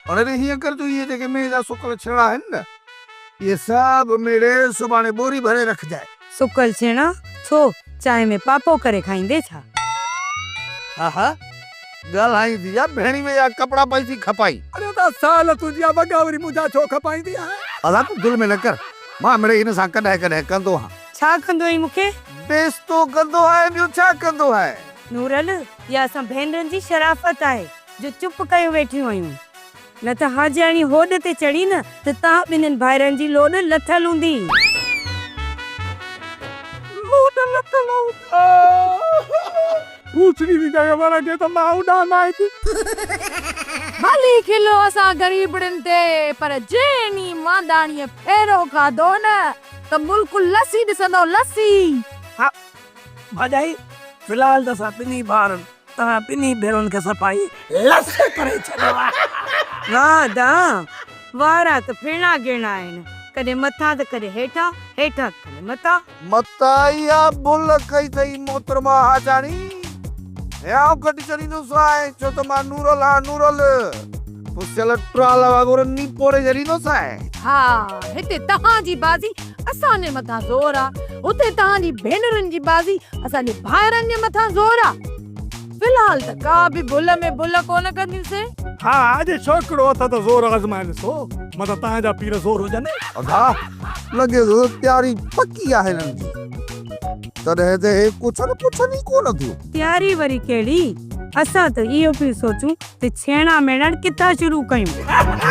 هن تي هيئن ڪر جو اهي جيڪي مينهن جا سڪل ڇيڻا آهن نه، اهي سڀ ميڙي سڀاڻي ٻوري ڀري رکجانء. سڪل ڇيڻا ڇو؟ چانهه ۾ پاپو ڪري کائيندين ڇا؟ ها ها، ڳالهائيندي يا ڀيڻي ۾ يا ڪپڙا پئي ٿي کپائين. اڙي ادا سال تنهنجي يا وڳا وري منهنجا ڇو کپائيندي آهين؟ ادا تون دل ۾ نه ڪر، مان مڙئي هن سان ڪڏهن ڪڏهن ڪندو هان. ڇا ڪندو آهين مون کي؟ بيستو ڪندو آهي، ٻيو ڇا ڪندو آهي؟ نورل، اها اسان ڀينرن جي شرافت آهي. جو چپ ڪيون ويٺيون هيون، نه ته حاجياڻي هوڏ تي چڙهي نه ته توهان ٻنهين ڀائرن جي لوڏ لٿل هوندي. لوڏ لٿل هوندي. ڀوسڙي جي جڳهه ورهه ڏي ته مان اڏان ناهي ٿي. ڀلي کلو اسان غريبڙين تي، پر جي انهي مانداڻيء ڦيرو کاڌو نه ته ملڪ لسي ڏسندو، لسي. ها ڀاڄائي، في الحال ته اسان ٻنهين ڀائرن توهان ٻنهي ڀيرون کي صفائي لس ڪري ڇڏيو آهي. واه دا، وارا ته ڦيڻا گيڻا آهن، ڪڏهن مٿان ته ڪڏهن هيٺان، هيٺان ته ڪڏهن مٿان. متان اها ڀل ڪئي اٿئي محترمه حاجاڻي، هيانء گهٽ چڙهيندوس آهي، ڇو ته مان نورل هان نورل، پسيل ٽرال وانگر نيپوڙي ڇڏيندوس آهي. ها، هتي توهان جي بازي اسان جي مٿان زور آ اتي توهان جي ڀينرن جي بازي اسان جي ڀائرن جي مٿان زور آ في الحال ته ڪا به ڀل ۾ ڀل ڪونه ڪنديون سي. ها اڄ ڇوڪرو اٿ ته زور آزمائي ڏسو متان توهان جا پير زور هجن. ادا لڳي ٿو ته تياري پڪي آهي هنن جي تڏهن ته هي ڪڇن پڇن ئي ڪونه ٿيون. تياري وري ڪهڙي اسان ته اهو پيون سوچون ته ڇيڻا ميڻڻ ڪٿان شروع ڪيون.